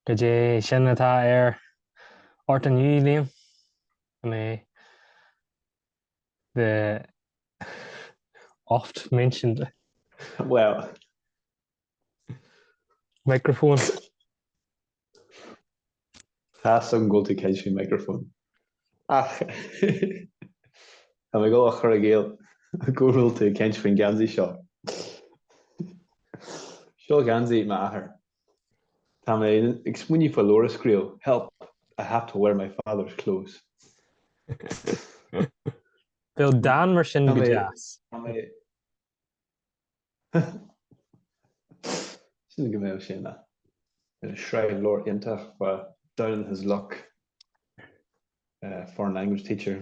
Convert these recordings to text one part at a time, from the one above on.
Goidé sin atá ort inniu, Liam? An é the oft mentioned Well, microphone? Tá's agam go bhfuil tú ag caint faoin micreafón. Ach tá mé ag dul a chur i gcéill go bhfuil tú ag caint faoin gheansaí seo. Seo geansaí m'athar. Tá mé ag smaoineamh faoi leabhar a scríobh, help, I have to wear my father's clothes. Bheadh Dan mar sin go deas. Sílim go mbeadh sin ina shraith leabhar iontach, down on his luck foreign language teacher.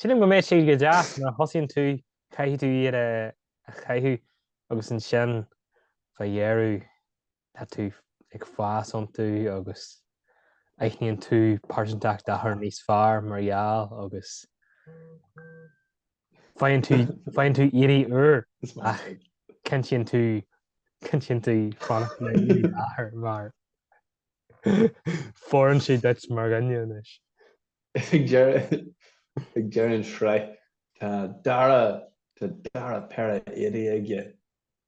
Sílim go mbeadh siad go deas nuair a thosaíonn tú, caithfidh tú iad a chaitheamh agus ansin fá dheireadh tá tú ag fás iontu agus aithníonn tú pearsantacht d'athar níos fearr mar gheall agus faigheann tú faigheann tú éadaí úr ach cinntíonn tú cinntíonn tú fanacht le éadaí d'athar mar fóireann siad duit mar dhuine anois. Ag deireadh an tsraith tá dara tá dara péire éadaí aige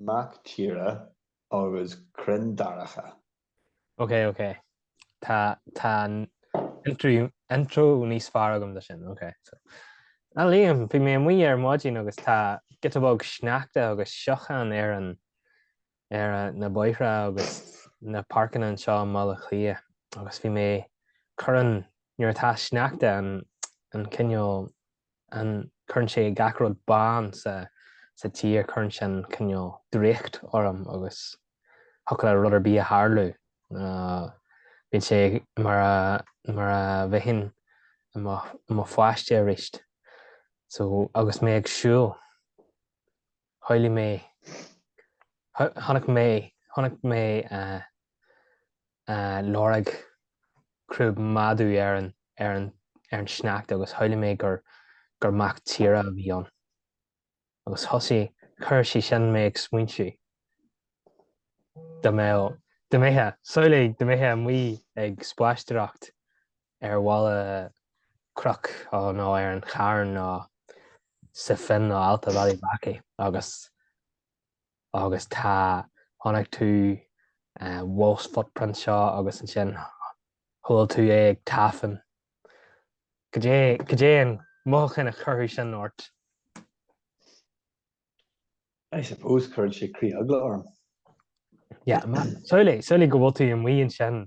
Mac tíre agus crainn daracha. Ok ok tá tá an intro intro níos fearr agam dó sin ok so ah Liam bhí mé amuigh ar maidin agus tá giota beag sneachta agus siocán ar an ar a na bóithre agus na páirceanna anseo i mBaile Átha Cliath agus bhí mé cuireann nuair atá sneachta an an cineál Ah cuireann sé gach rud bán sa tír, cuireann sin cineál draíocht orm agus thiocfadh le rud ar bith a tharlú. Bíonn sé mar a bheinn i mo pháiste aríst. Só, agus mé ag siúl. Shamhlaigh mé. Chonaic mé. Chonaic mé lorg crúb madadh ar an, ar an, ar an sneachta agus shamhlaigh mé gur, gur mac tíre a bhí ann. Agus thosaigh, chuir sé sin mé ag smaointiú. Dá mbeadh, dá mbeifeá, samhlaigh dá mbeifeá amuigh ag spaisteoireacht ar mhala cnoic nó ar an charn nó sa phin nó alt a bhealaigh Mackey agus agus tá chonaic tú wolf's footprint seo agus ansin chuala tú é ag tafann. Cad é cad é an mothúchán a chuirfeadh sin ort? I suppose chuirfeadh sé critheagla orm. Yeah, man. Samhlaigh samhlaigh go bhfuil tú amuigh ansin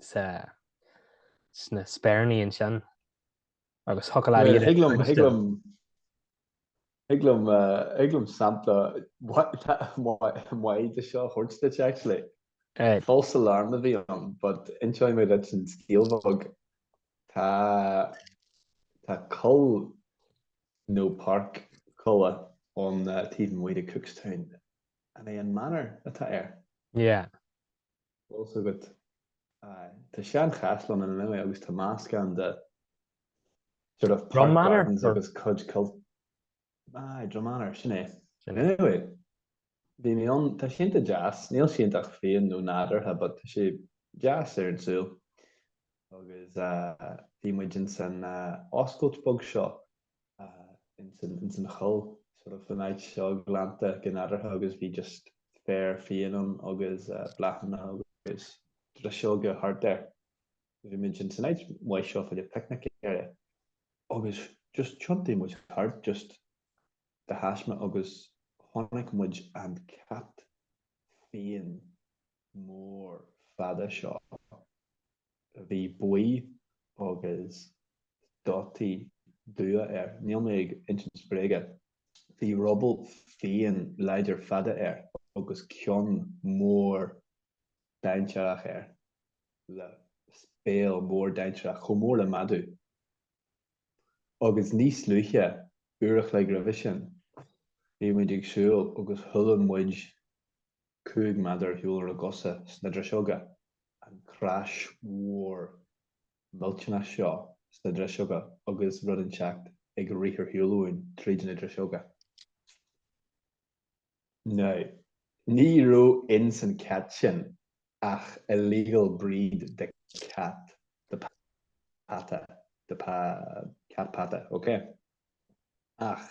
sa, sna Speiríní ansin agus thiocfadh leat iad a chloisteáil. Thig liom, thig liom, thig liom, eh, thig liom sampla mai- maith de seo a thabhairt duit, actually. Eh, False alarm a bhí ann, but inseoidh mé duit an scéal bheag. Tá, tá coill nó páirc coille ón eh, taobh amuigh de Cookstown. An é an Manor atá air? yeah. Bhfuil a fhios agat. Tá seanchaisleán ann anyway agus tá meascán de sort of Drum Manor agus cuid coillte. Ah, Drum Manor, sin é. Anyway, bhí mé an tá sé iontach deas, níl sé iontach fiáin nó nádúrtha but tá sé deas ar an súil agus bhí muid ins an oscailt beag seo ins an choill sort of an áit seo glanta go nádúrtha agus bhí just féar fiáin ann agus bláthanna agus driseoga thart air. Bhí muid ins an áit mhaith seo fá choinne picnic area agus just tiontaigh muid thart just de thaisme agus chonaic muid an cat fiáin mór fada seo, bhí buí agus dotaí dubha air. Níl mé ag insint bréige. Bhí ruball fiáin láidir fada air agus ceann mór dainséarach air, le béal mór dainséarach chomh mór le madadh. Agus níos luaithe, uair a chloig roimhe sin, bhí muid ag siúl agus chuala muid Cúig mhéadar ar shiúl ónár gcosa sna driseoga, an crash mhór millteanach seo sna driseoga agus rud inteacht ag rith ar shiúl uainn tríd na driseoga. Now, ní raibh ins an cat sin ach illegal breed de cat, de peata, de cat peata, ok? Ach.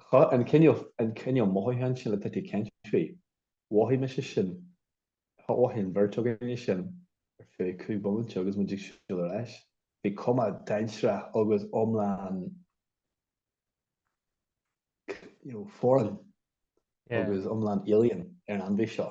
Tá an cineál, an cineál mothúcháin sin le Titty Tenby. Mhothaigh mise sin. Mhothaigh an bheirt againne sin ar feadh cúig bhomaite agus muid ag siúl ar ais. Bhí cuma dainséarach agus iomlán you know, foreign agus iomlán alien ar an ainmhí seo.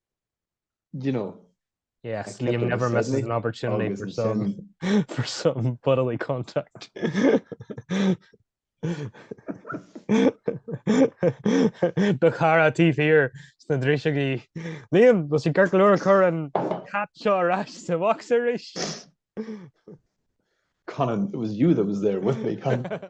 you know, Yes, Liam never misses an opportunity for some, for some bodily contact. Ba chara tí hir sna drísegaí. Liam, bhil si gurclúr chur an cat seo aráis sa bhacs aris? Conan, it was you that was there with me, Conan.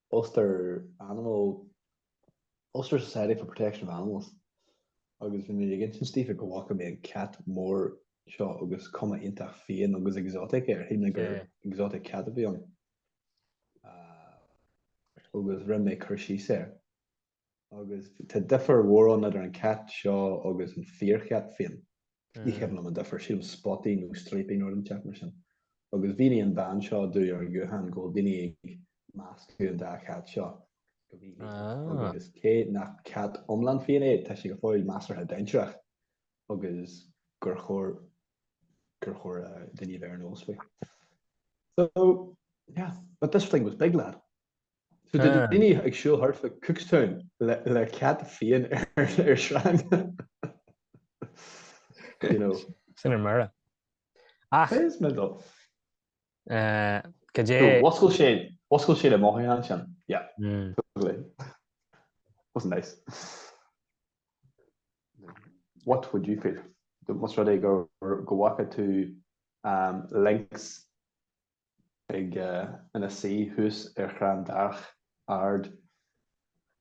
Ulster Animal, Ulster Society for Protection of Animals, agus bhí mé ag insint d'Aoife go bhfaca mé an cat mór seo agus cuma iontach fiáin agus exotic air, thuig mé gur exotic cat a bhí ann agus rinne mé cur síos air. agus tá difear mhór ann idir an cat seo agus an fíorchat féin. Níl fhios agam an difear, sílim spotty nó stripy nó rud inteacht mar sin. Agus mhínigh an bean seo domh ar an ghuthán go bhfuil daoine ag meascadh an dá chat seo go mídhleathach ah. agus cé nach cat iomlán fiáin é, tá sé go fóill measartha dainséarach agus gur chóir gur chóir daoine a bheith ar an eolas faoi. So, yeah, but this thing was big, lad. So did ah. any ag siúl hart le Cookstown le, le cat fian ar ar shrang you know sin ar mara ach is me dó eh, go dé wascail sé wascail sé le mó an sin yeah mm. was nice what would you feel the most ready go go walk to um links ag ina suí thuas ar chrann darach ard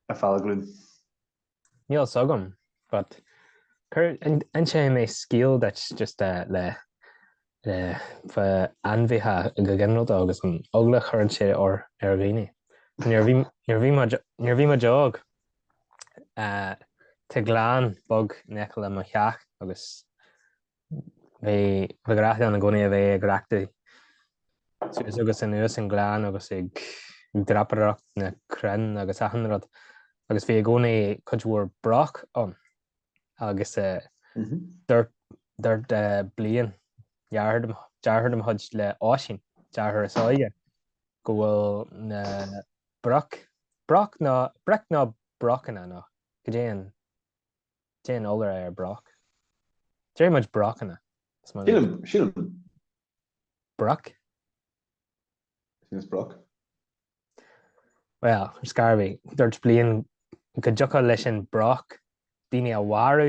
ar Fál Cluain. Níl fhios agam but cuir inseoidh mé scéal duit just le fa ainmhithe go ginearalta agus an eagla a chuireann sé ar dhaoine. Nuair bhí muid óg tá gleann beag in aice le mo theach agus Bhí ba ghrá linn i gcónaí a bheith ag reathaidh suas agus anuas an ghleann agus ag dreapadóireacht na crainn agus achan rud agus bhí i gcónaí cuid mhór broc ann agus dúirt Blaine deartháir de mo chuid le Oisín, deartháir is óige, go bhfuil na broic, broc nó broic nó brocanna nó caidé an Caidé an iolra ar broc. Déarfaidh muid brocanna. Sílim, sílim. Broc? Sílim is broc. Bhuel, ar scor ar bith, dúirt Blaine go dtiocfadh leis an broc daoine a mharú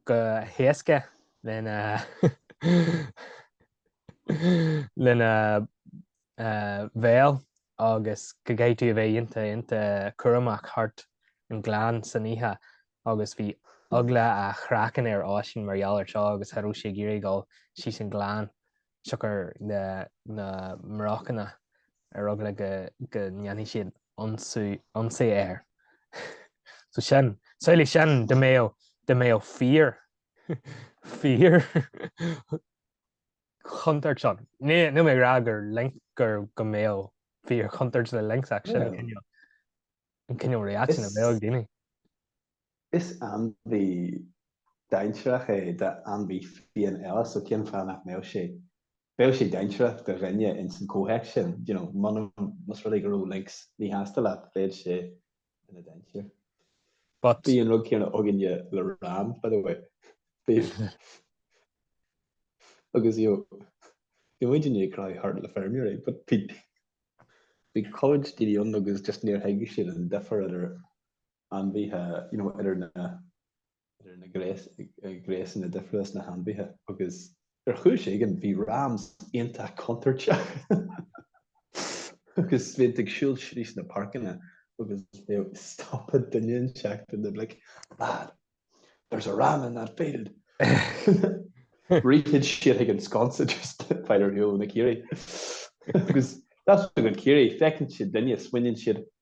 go héasca lena lena bhéal agus go gcaithfidh tú a bheith iontach iontach cúramach thart an gleann san oíche agus bhí eagla a' chraiceann ar Oisín mar gheall ar seo agus cha raibh sé ag iarraidh gabháil síos an gleann siocair na mbrocanna ar eagla go go ndéanfadh siad ionsaí air so sin samhlaigh sin dá mbeadh dá mbeadh fíor fíor chontúirt ann. Níl mé ag rá gur link gur go mbeadh fíorchontúirt le lynx ach sin an cineál reaction a bheadh ag daoine. Is ainmhí dainséarach é d'ainmhí fiáin eile so cén fáth nach mbeadh sé, bheadh sé dainséarach do dhuine ins an comhthéacs sin, you know, muna, más rud é go raibh lynx míshásta leat, bheadh sé ina deintear. But Bhí an rud céanna againne le ram, by the way. Bhí agus you know, bhí muid in ag craic thart le feirmeoirí, but bhí bhí cuid daoine ann agus just níor thuig siad an difear idir ainmhithe, you know, idir na idir na gnéasanna difriúla sna hainmhithe agus. Ar chúis éigin bhí Rams iontach contúirteach agus bhíodh siad ag siúl tríd na páirceanna agus stopadh duine éigin iad and they're like, Lad, there's a Ram in that field! Rithfeadh siad chuig an sconsa just le fáil ar shiúl ó na caoirigh agus tá a fhios agat caoirigh feiceann siad duine smaoiníonn siad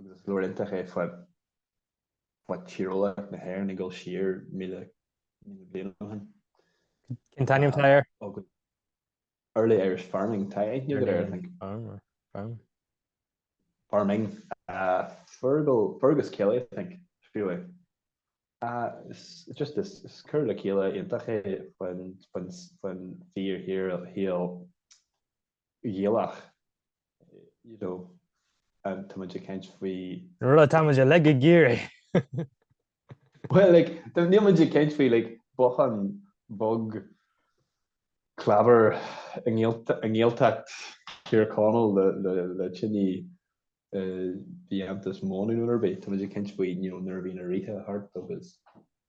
agus is leabhar iontach é faoi tíreolaíocht na hÉireann ag dul siar míle bliain ó shin. Cén t-ainm atá air? Early Irish Farming. Tá aithne agat air, I think. Farmer. Farm. Farming. Uh, Fergal, Fergus Kelly, I think, scríobh é. Uh, it's just this, it's cur le chéile iontach é faoin, faoin, faoin fíor, fíorshaol Gaelach, you know, and táimid ag caint faoi. Rud atáimid uilig ag iarraidh. Bhuel, like, níl muid ag caint faoi, like, bothán beag clábair i nGaeltacht Thír Chonaill le tine bheag deas móna nó rud ar bith. Táimid ag caint faoi, you know, nuair a bhí na ríthe thart agus.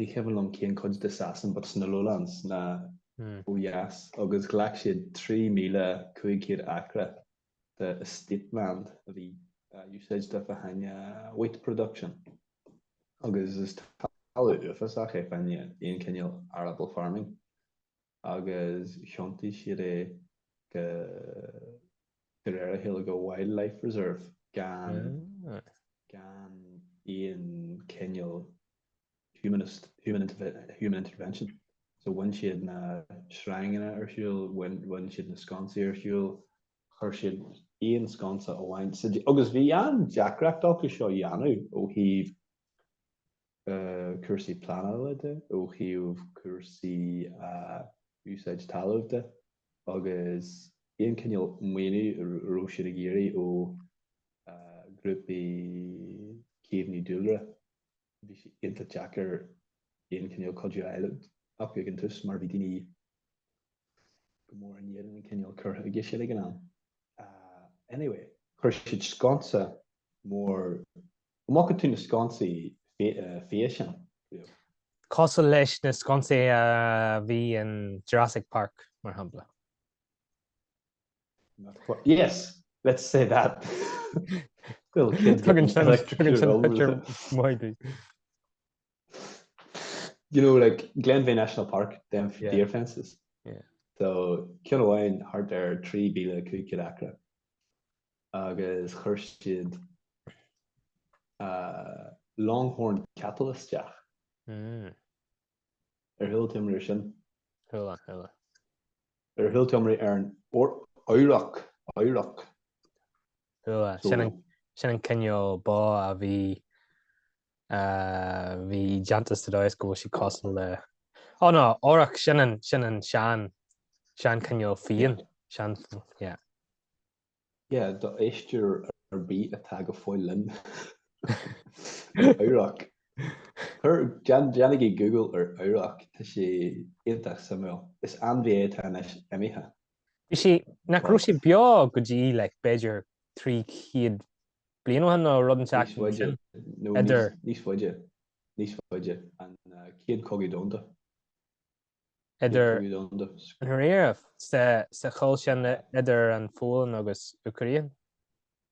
ní cuimhin liom cén cuid de Shasana but sna Lowlands na hmm. ó dheas agus ghlac siad 3500 acra de estate land a bhí uh, in úsáid fá choinne uh, wheat production agus is talamh uafásach é fá choinne aon cineál arable farming agus thiontaigh siad é go de réir a chéile go wildlife reserve gan gan aon cineál humanist, human human intervention. So bhain siad na sreanganna ar shiúl, bhain bhain siad na sconsaí ar shiúl, chuir siad aon sconsa amháin suas agus bhí an-deacracht acu seo a dhéanamh ó thaobh cúrsaí pleanála de, ó thaobh cúrsaí úsáid talún de agus aon cineál maoiniú a raibh siad ag iarraidh ó ghrúpaí caomhnú dúlra. Bhí sé iontach deacair aon cineál cuidiú a fháil uathu ag an tús mar bhí daoine go mór in éadan an cineál cur chuige sin ag an am. Anyway, chuir siad sconsa mór Go mbacfaidh tú na sconsaí fia sin, Leo. Cosúil leis na sconsaí a bhí in Jurassic Park, mar shampla. Yes! Let's say that! Little kid getting electrocuted over the. You know, like Glenveagh National Park, they have deer fences. Yeah. So, ceann amháin thart ar 3,500 acra. agus chuir siad Longhorn cattle isteach. Ar chuala tú iomrá air sin? Chuala, chuala. Ar chuala tú iomrá ar an auroch, auroch? Chuala. Sin an cineál ba a bhí bhí déanta sa dóigh is go bhfuil siad cosúil le Ó no, auroch, sin an sean, sean cineál fiáin, sean, yeah. Yeah, do éisteoir ar bith atá go fóill linn. Auroch. Cuir, déanaigí Google ar auroch, tá sé iontach suimiúil. Is ainmhí é atá anois imithe. Bhí sí, nach raibh sí beo go dtí like b'fhéidir 300 bliain ó shin nó rud inteacht mar sin. Níos faide, nó níos, Idir. níos faide, níos faide, an uh, chéad cogadh domhanda. idir sa choill sin idir an Pholainn agus Úcráin,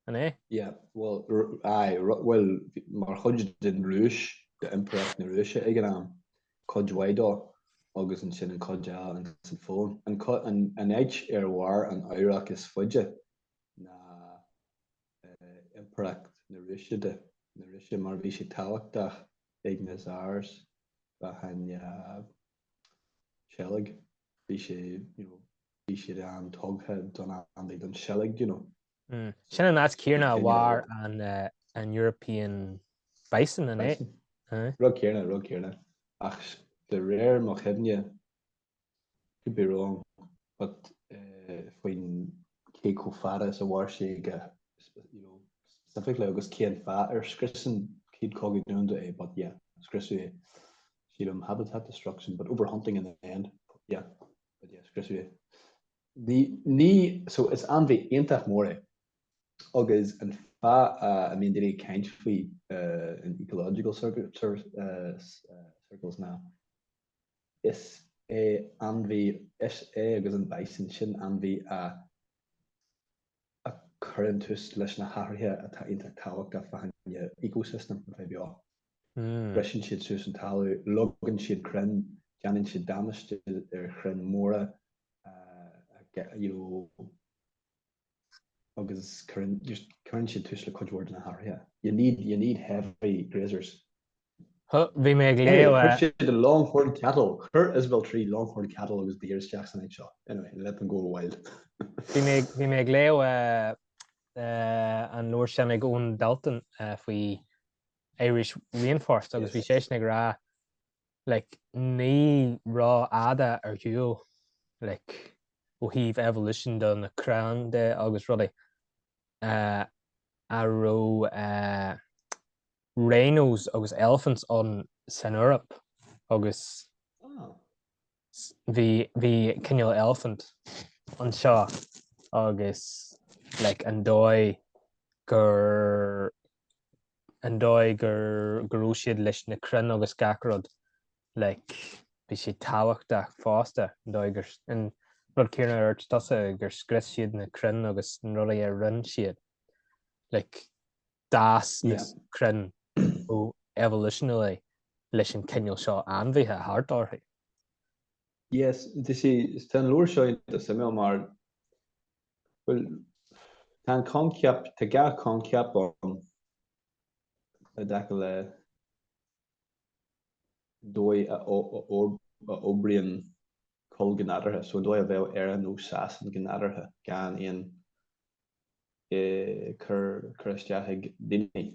an é? Yeah, bhuel, aye, bhuel, mar chuid den Rúis, d'Impireacht na Rúise ag an am, cuid mhaith dó, agus ansin an cuid eile ins an Pholainn. An áit ar mhair an auroch is faide ná impireacht na Rúise de, na Rúise mar bhí sé tábhachtach ag na Tsars fá choinne seilg, bhí sé, you know, bhí siad an-tugtha don ainmhí, don seilg, you know. Mm. Sin an áit céarna a mhair an, uh, an European bison, an é? Bison. Aye. Rud céarna, rud céarna. Ach de réir mo chuimhne, Could be wrong but faoin cé chomh fada is a mhair sé aige you know specifically agus cén fáth ar scrios an chéad chogadh domhanda é but yeah scriosadh é sílim habitat destruction but overhunting in the end yeah but yeah scriosadh é ní, ní so is ainmhí iontach mór é agus an fáth a mbíonn daoine ag caint faoi in ecological circles ná Is é ainmhí é agus an bison sin ainmhí a chuireann tús leis na hathruithe atá iontach tábhachtach fá choinne ecosystem a bheith beo. Briseann siad suas an talamh, leagann siad crainn, déanann siad damáiste ar chrainn mhóra, you know. agus cuireann, just, cuireann siad tús le cuid mhór de na hathruithe. You need, you need heavy grazers. Huh, bhí mé ag léamh a. Chuir siad an longhorn cattle, chuir Isabel trí longhorn cattle agus deer isteach san áit seo. Anyway, let them go wild. Bhí mé, bhí mé ag léamh an leabhar sin ag Eoghan Daltun faoi Irish Rainforest agus bhí sé sin ag rá Like, ní rófhada ar shiúl, like, ó thaobh evolution do na crainn de agus rudaí, eh, a raibh, eh, rhinos agus elephants ann san Eoraip agus s, bhí, bhí cineál elephant anseo agus, like, an dóigh gur an dóigh gur go raibh siad leis na crainn agus gach rud like bhí siad tábhachtach fosta an dóigh gur an rud céanna a dúirt tusa gur scrios siad na crainn agus na rudaí a rinne siad like d'fhás na Yeah. crainn ó evolutionally leis an cineál seo ainmhithe thart orthu. Yes, tá sé is tá an leabhar seo iontach suimiúil mar Bhuel, tá an coincheap, tá dhá choincheap ann i dtaca le dóigh a oibríonn coill go nádúrtha, so an dóigh a bheadh Éire nó Sasain go nádúrtha gan aon cur isteach ag daoine.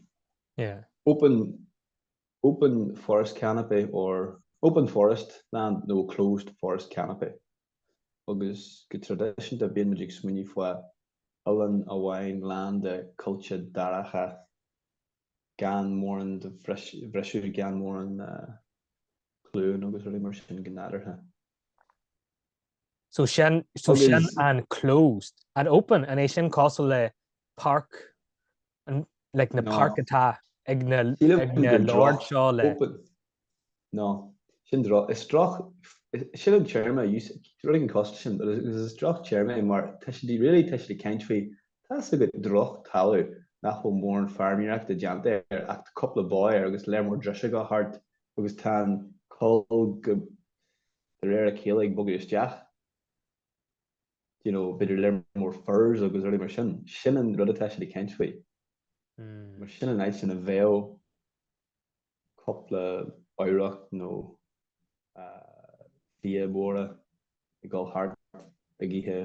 Open. open forest canopy or open forest land nó closed forest canopy agus go traidisiúnta bíonn muid ag smaoineamh faoi oileán amháin lán de choillte daracha gan mórán de bhriseadh, gan mórán cluain agus rudaí mar sin go nádúrtha. So sin so sin an closed an open an é sin cosúil le park like na páirc atá ag na lords seo le. No sin do is droch sin an téarma you really can cost sin agus is droch téarma é mar tá siad really tá siad ag caint faoi tá's agat drochthalamh nach bhfuil mórán feirmeoireacht déanta air ach cúpla ba air agus lear mór driseoga thart agus tá an choill go de réir a chéile ag bogadh isteach. you know, b'fhéidir lear mór furze agus rudaí mar sin. Sin an rud atá siad ag caint faoi. Mar sin an áit ina bheadh cúpla auroch nó fia móra ag dul thart ag ithe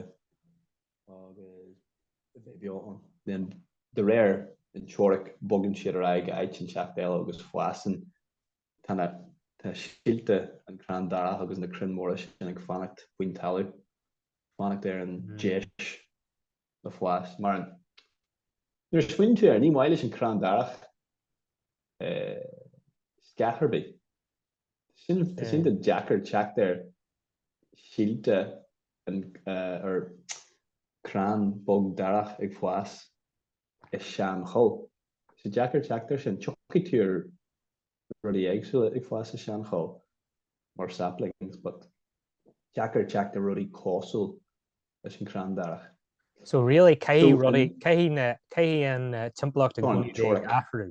agus bheith beo ann. Then de réir an teoiric bogann siad ar aghaidh go áit inteacht eile agus fásann Tá síolta an crann darach agus na crainn mhóra sin ag fanacht faoin talamh, fanacht ar an deis le fás. Mar nuair a smaoiníonn tú air, ní maith leis an crann darach scáth ar bith. Sin tá sé deacair teacht ar shíolta ar crann beag darach ag fás. i seanchoill. So deacair teacht ar sin. Tiocfaidh tú ar rudaí éagsúla ag fás i seanchoill mar saplings but deacair teacht ar rudaí cosúil leis an crann darach. So really caithfidh rudaí, caithfidh na, caithfidh an timpeallacht i gcónaí bheith ag athrú.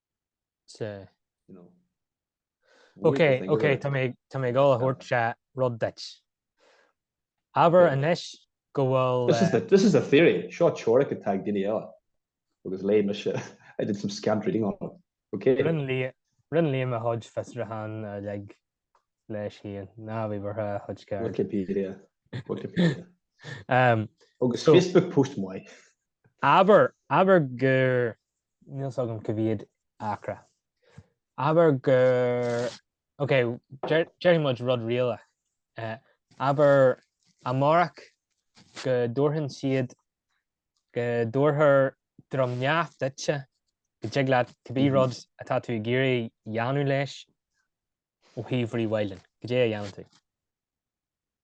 So. You know. Ok, ok, tá mé tá mé ag gabháil a thabhairt, seo rud duit. Abair yeah. anois go bhfuil... This, uh, is the, this is the theory. Seo teoiric atá ag duine eile. Agus léigh mise, I did some scant reading on it. Ok. Rinn Liam, rinn Liam a chuid fiosrúchán uilig leis féin. Ná bí buartha, a chuid Wikipedia. Wikipedia. um, Agus so, Facebook post maith. Abair, abair gur, níl fhios agam cá mhéad acra, abair gur, ok, déarfaidh muid rud réalach, abair amárach go dtabharfaidh siad, go dtabharfar Droim nDamh duitse, go dtig leat cibé rud atá tú ag iarraidh dhéanamh leis ó thaobh rewilding, goidé a dhéanann tú.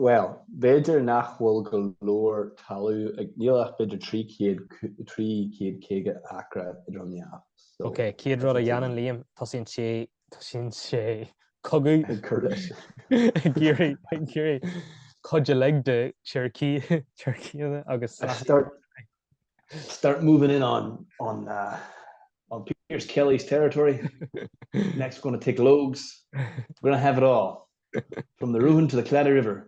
Bhuel, b'fhéidir nach bhfuil go leor talamh ann, níl ach b'fhéidir 300, 350 acra i nDroim nDamh. So, Ok, céad rud a dhéanann Liam, tosaíonn sé, tosaíonn sé cogadh, ag cur leis. ag iarraidh, ag iarraidh cuid uilig de Cherokee, Cherokeeanna agus I Sasana. start, start moving in on, on, uh, on Pearse Kelly's territory. Next we're going to take Logues. We're going to have it all. From the Rúin to the Claddagh River.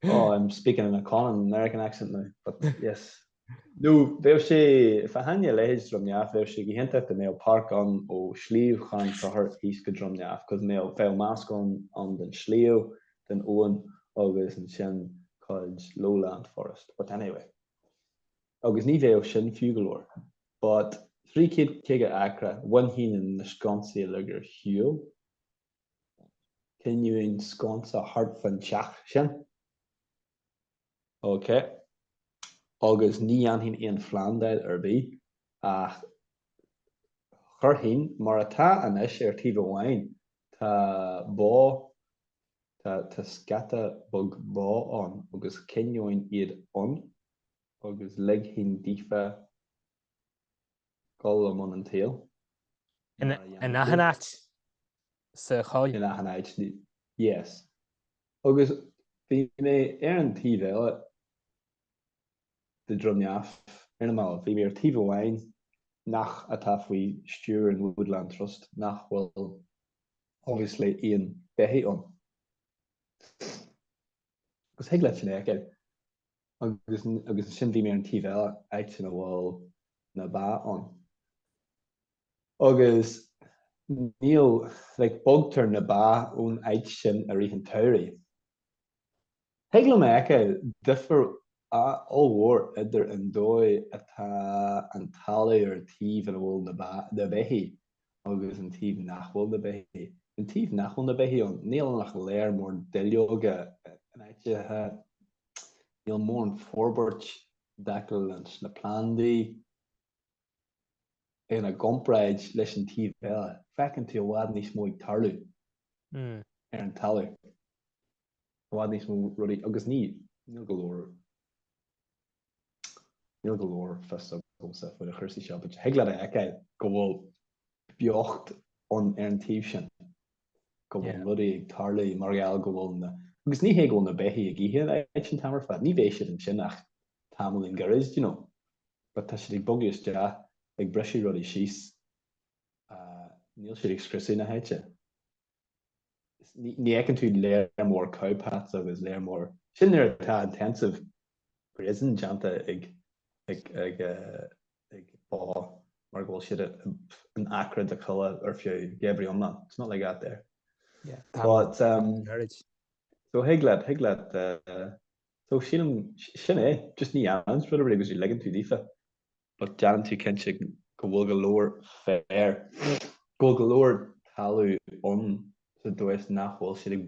Oh, I'm speaking in a common American accent now, but yes. Nó bheadh sé fiáin a leithéid Dhroim nDamh, bheadh sé go hiontach go mbeadh páirc ann ó Sliabh Chairn Sochair síos go Droim nDamh, cos bheadh meascán den sliabh, den abhainn agus ansin cuid lowland forest, but anyway. Agus ní bheadh sin fiú go leor. But 350 acra, bhainfinn na sconsaí uilig ar shiúl. Coinneoinn sconsa thart fan teach sin. Ok. Agus ní dhéanfainn aon phlandáil ar bith, ach chuirfinn, mar atá anois ar taobh amháin, tá bó, tá, tá scata beag bó ann agus coinneoinn iad ann agus ligfinn daofa Gabháil i mbun an tsaoil. In athan áit sa choill. In athan áit, yes. Agus bhí mé ar an taobh eile de Droim Neamh ar na mallaibh. Bhí mé ar taobh amháin nach atá faoi stiúir an Woodland Trust nach bhfuil obviously aon beithigh ann. Agus thig leat a fheiceáil. agus ansin bhí mé ar an taobh eile, áit ina bhfuil na ba ann. Agus níl, like, bogtar na ba ón áit sin i rith an tsamhraidh. Thig liom a fheiceáil difear ollmhór idir an dóigh atá an talamh ar an taobh ina bhfuil na ba, na beithígh, agus an taobh nach bhfuil na beithígh. An taobh nach bhfuil na beithígh ann, níl ann ach léar mór duilleoga ina n-áit-the. Níl mórán forbairt dá chuid ann, na plandaí ina gcomparáid leis an taobh eile. Feiceann tú i bhfad níos mó ag tarlú ar an talamh. i bhfad níos mó rudaí agus níl, níl go leor, níl go leor fios agamsa faoi na cúrsaí seo, but thig leat a fheiceáil go bhfuil beocht ann ar an taobh sin, go bhfuil rudaí ag tarlú mar gheall go bhfuil na, agus ní hé go bhfuil na beithígh ag ithe an áit sin an t-am ar fad, ní bheidh siad ansin ach tamaillín gairid, do you know, but tá siad ag bogadh isteach, ag briseadh rudaí síos, níl siad ag scriosadh na háite. Ní fheiceann tú léar mór cow paths agus léar mór, sin nuair atá intensive grazing déanta ag ba mar go bhfuil siad in acra de choill ar feadh geimhridh iomlán, it's not like that there. But um so thig leat, thig leat so sílim sin é, just ní dhéanann rud ar bith agus is ligeann tú daofa. but déanann tú cinnte go bhfuil go leor féir, go bhfuil go leor talamh ann sa dóigh nach bhfuil siad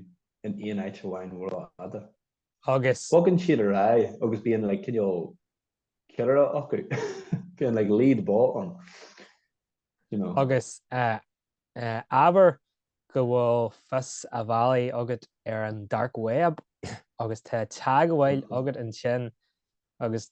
in aon áit amháin rófhada. Agus. Bogann siad ar aghaidh agus bíonn like cineál ceannaire acu, bíonn like lead bó ann. You know. Agus uh, uh, abair go bhfuil fios an bhealaigh agat ar an dark web agus tá teagmháil mm-hmm. agat ansin agus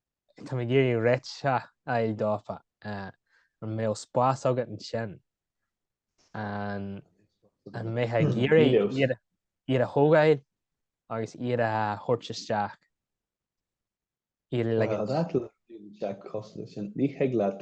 Táim ag iarraidh réidh a fháil daofa. An mbeadh spás agat ansin? An mbeifeá ag iarraidh iad a thógáil agus iad a thabhairt isteach? Iarraidh le. Tá an t-athrú ar an bhliain 7 cosúil leis sin. Ní thig leat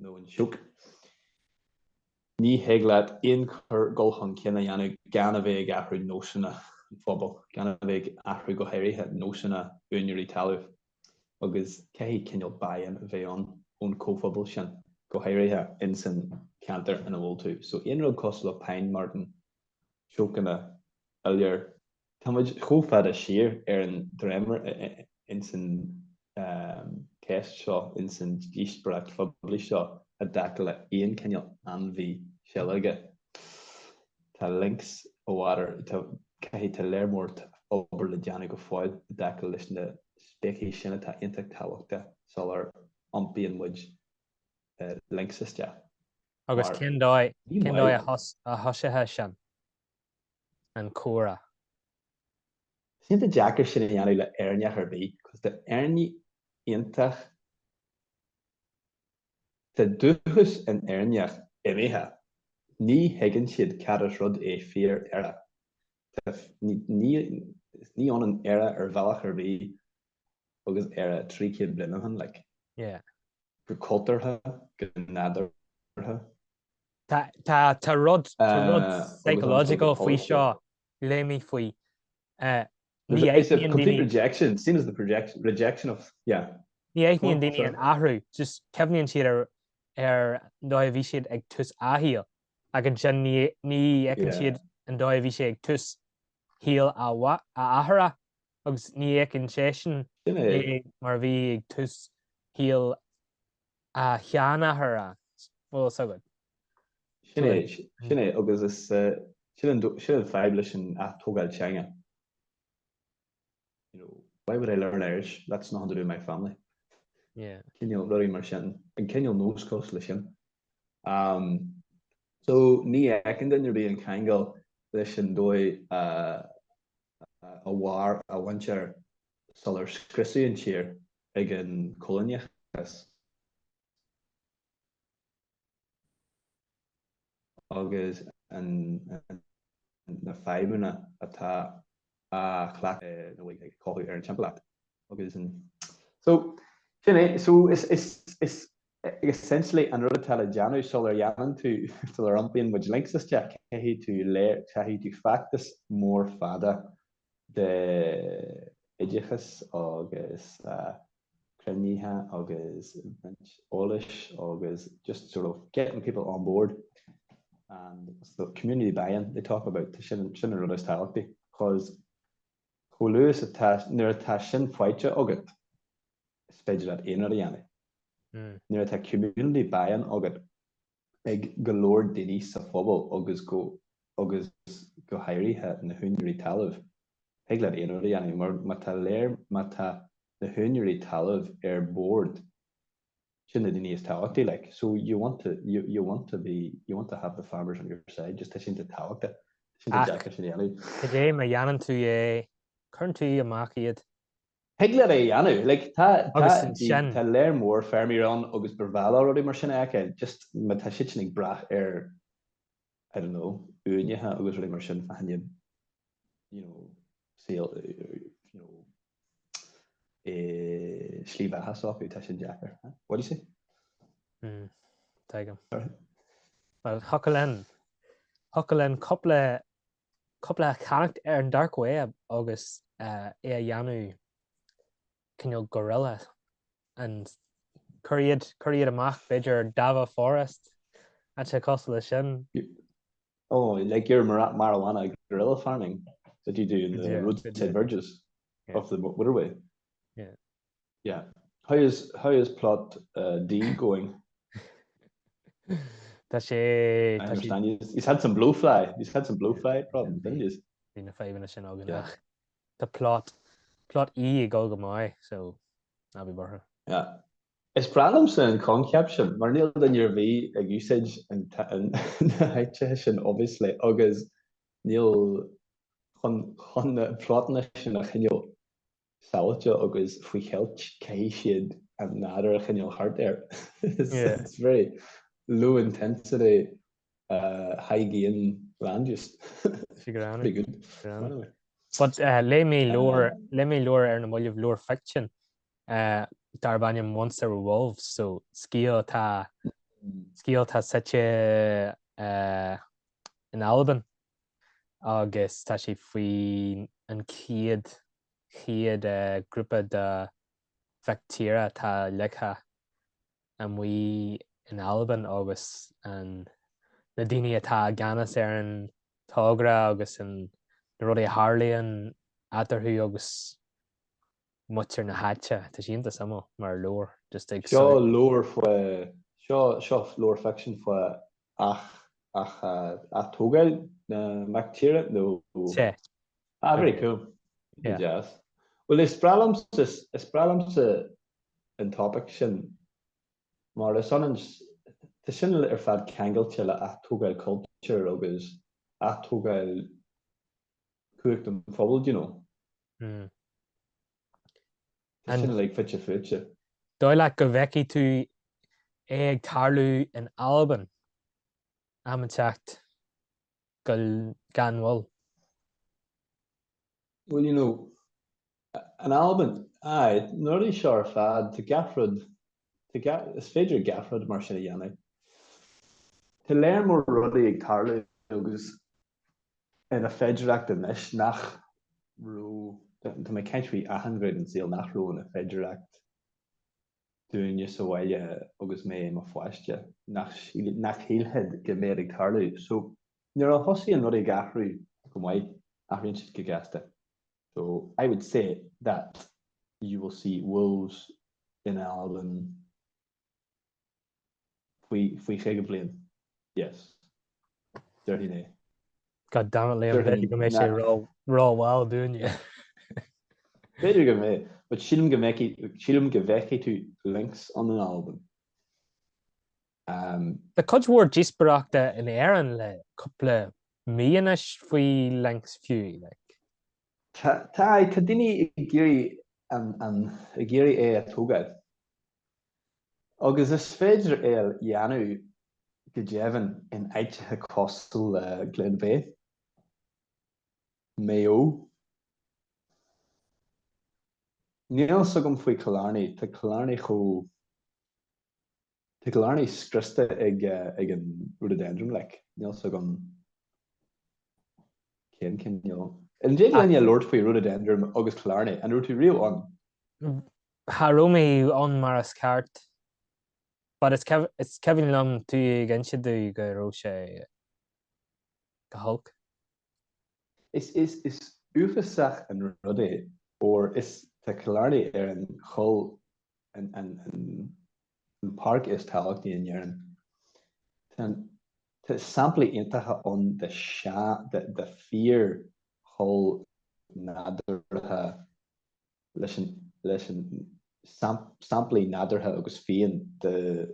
nó an sioc. Ní thig leat aon chor dhul chun cinn a dhéanamh gan a bheith ag athrú nósanna an phobail, gan a bheith ag athrú go háirithe nósanna úineirí talaimh, agus caithfidh cineál buy-in a bheith ann ón comhphobal sin, go háirithe insan ceantar ina bhfuil tú. So aon rud cosúil le pine marten, siocanna, iolair, Táimid chomh fada siar ar an dréimire ins an cheist seo, ins an díospóireacht phoiblí seo, i dtaca le haon chineál ainmhí seilge. Tá lynx i bhfad, caithfidh, tá léar mór obair le déanamh go fóill i dtaca leis na speicis sin atá iontach tábhachtach sula n-iompraíonn muid lynx isteach. Agus cén dóigh a thosófá sin? an comhrá. Is iontach deacair sin a dhéanamh le Éireanneach ar bith agus tá Éireannaigh iontach, tá dúchas an Éireannaigh imithe, ní thuigeann siad cad is rud é fíor-Éire. Ní ionann Éire ar bhealach ar bith agus Éire trí chéad bliain ó shin. Yeah. go cultúrtha, go nádúrtha. Tá tá rud tá rud psychological faoi seo, léigh mé faoi. Ní aithníonn daoine. Complete rejection, same as the project rejection of, yeah. Ní aithníonn daoine an t-athrú, just cuimhníonn siad ar ar an dóigh a bhí siad ag tús a saoil ach ansin ní ní fheiceann siad an dóigh a bhí sé ag tús shaoil a a n-athara agus ní fheiceann seisean é mar a bhí ag tús shaol a sheanathara, bhfuil fhios agat. Sin é, sin é, agus is sin an fadhb leis an atógáil teanga. You know, why would I learn Irish? That's nothing to do with my family. Yeah. Cineál rudaí mar sin, an cineál nós cosúil le sin. Um, so ní fheiceann duine ar bith an ceangal leis an dóigh a a mhair a muintir sular scriosadh an tír ag an coilíneachas, agus na fadhbanna atá a chleachtanna ag cothú ar an timpeallacht. Essentially, an rud atá le déanamh sula ndéanann tú, sular iompaíonn muid lynx isteach, caithfidh tú, caithfidh tú feachtas mór fada d'oideachas agus cruinnithe agus roinnt eolais agus just sort of getting people on board and so community buy-in they talk about, sin an rud is tábhachtaí, cause chomh luath is atá, nuair atá sin faighte agat, is féidir leat aon rud a dhéanamh. Nuair atá community buy-in agat ag go leor daoine sa phobal agus go agus go háirithe na húinéirí talaimh, thig leat aon rud a dhéanamh. Mar má tá lear, má tá na húinéirí talaimh ar board, sin na daoine is tábhachtaí, like. So you want to, you you want to be, you want to have the farmers on your side, just tá sé iontach tábhachtach, tá sé iontach deacair sin a dhéanamh. Ach cad é má dhéanann tú é, cuireann tú amach iad Thig leat é a dhéanamh. Like tá, tá, tá lear mór feirmeoirí ann agus ba bhreá leo rudaí mar sin a fheiceáil. Just má tá siad sin ag brath ar, I don't know, uainte agus rudaí mar sin, faigheann iad, you know, saol, you know, eh, slí bheatha s'acu, tá sin deacair. What do you say? Mm, Tuigim. Sorry. Well, thiocfadh linn, thiocfadh linn cúpla cúpla a cheannacht ar an dark web agus é a dhéanamh cineál guerrilla and cuir iad cuir iad amach b'fhéidir Davagh Forest tá sé cosúil le sin ó like your marijuana guerrilla farming that you do in the yeah, roadside verges yeah. of the motorway yeah Yeah. How is, how is plot uh, D going? Tá sé... I tá sé- understand. He's, he's had some blue fly. He's had some blue fly problems, didn't he? Bhí na fadhbanna sin againn Yeah. ach Tá plot plot E ag dul go maith so ná bí buartha. Yeah. Is breá liomsa an coincheap sin, mar níl duine ar bith ag úsáid an t- an- na háiteacha sin obviously agus níl chun, chun na plottanna sin a choinneáil sábháilte agus faoi cheilt caithfidh siad an nádúr a choinneáil thart air. It's very low intensity high gain land use. Pretty good. But léigh mé leabhar, léigh mé leabhar ar na mallaibh, leabhar ficsin, darb ainm Once There Were Wolves, so scéal atá, scéal atá suite in Albain, agus tá sé faoin an chéad chéad grúpa de mhic tíre atá ligthe amuigh in Albain agus an na daoine atá i gceannas ar an togra agus an na rudaí a tharlaíonn eatarthu agus muintir na háite Tá sé iontach suimiúil, mar tá leabhar just ag Seo, seo leabhar faoi seo seo leabhar fiction faoi ath- ath- athtógáil na mac tíre nó, a very cool yeah. yes well is breá liom is breá liomsa an topic sin mar is ionann, tá sin ar fad ceangailte le athtógáil cultúir agus athtógáil cumhacht an phobail, do you know. Mm. Tá sin like fite fuaite. Dóigh leat go bhfeicfidh tú é ag tarlú in Albain am éigin ag teacht gan mhoill? Well, you know, in Albain, aye, na rudaí seo ar fad, tá gach rud, tá gach, is féidir gach rud mar sin a dhéanamh. Tá lear mór rudaí ag tarlú agus ina féidireacht anois nach raibh, tá mé cinnte faoi achan ghné den saol nach raibh ina féidireacht dúinne sa bhaile agus mé i mo pháiste, nach shílfead go mbeadh ag tarlú. So, nuair a thosaíonn rudaí ag athrú go maith, athraíonn siad go gasta. So, I would say that you will see wolves in Albain. faoi chaoga bliain. Yes. Déarfainn é. God damn it Liam, b'fhéidir go mbeidh sé ró-mhall dúinne. B'fhéidir go mbeidh, but sílim go mbeidh, sílim go bhfeicfidh tú lynx in Albain. Tá cuid mhór díospoireachta in Éirinn le cúpla mí anois faoi lynx fiú, like. Tá, tá, tá daoine ag iarraidh an, an, ag iarraidh é a thógáil. agus is féidir é a dhéanamh go deimhin in áiteacha cosúil le Gleann Bheatha, Maigh Eo. Níl a fhios agam faoi Killarney, tá Killarney chomh. tá Killarney scriosta ag an rhododendron like, níl a fhios agam cén cineál. An dtig linn labhairt faoi Rhododendron agus Killarney, an raibh tú riamh ann? Cha raibh mé ann mar is ceart. But is is cuimhin liom tú ag inse dom go raibh sé go holc. Is is is uafásach an rud é, óir is tá Killarney ar an choill an an an an páirc is tábhachtaí in Éirinn. Tá an tá samplaí iontacha ann de sean de de fíor choill nádúrtha. leis an samplaí nádúrtha agus fiáin de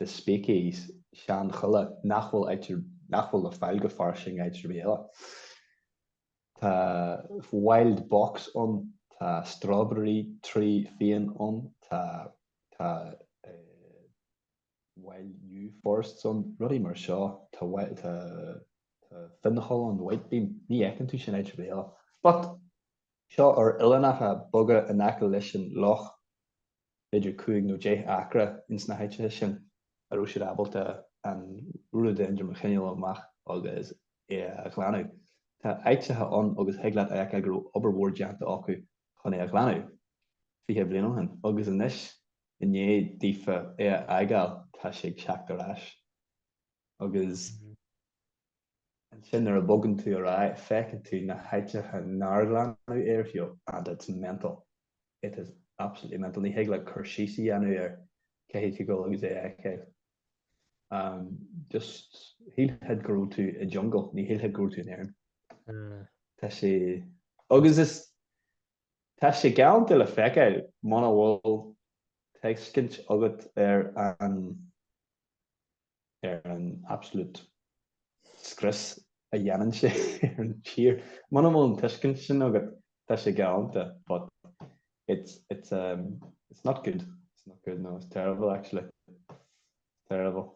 speicis seanchoille nach bhfuil le fáil go fairsing áit ar bith eile. Tá wild box ann, tá strawberry tree fiáin ann, tá wild yew forests ann, rudaí mar seo, tá, tá, tá fionncholl ann, white beam, ní fheiceann tú sin áit ar bith eile. But, seo ar oileánacha beaga in aice leis an loch, b'fhéidir cúig nó deich acra ins na háiteacha sin a raibh siad ábalta an Rhododendron a choinneáil amach agus é a ghlanadh. Tá áiteacha ann agus thig leat a fheiceáil go raibh obair mhór déanta acu chun é a ghlanadh, fiche bliain ó shin, agus anois i ndiaidh daofa é a fhágáil, tá sé ag teacht ar ais. Agus ansin nuair a bhogann tú ar aghaidh, feiceann tú na háiteacha nár glanadh ariamh, and it's mental. It is absolutely mental. Ní thig leat cur síos a dhéanamh air, caithfidh tú a ghabháil agus é a fheiceáil. Just shílfeá go raibh tú i jungle, ní shílfeá go raibh tú in Éirinn. Tá sé agus is Tá sé galanta le feiceáil muna bhfuil tuiscint agat ar an ar an absolute scrios a dhéanann sé ar an tír. Muna bhfuil an tuiscint sin agat, tá sé galanta, but it's, it's, um, it's not good. It's not good, no, it's terrible actually. Terrible.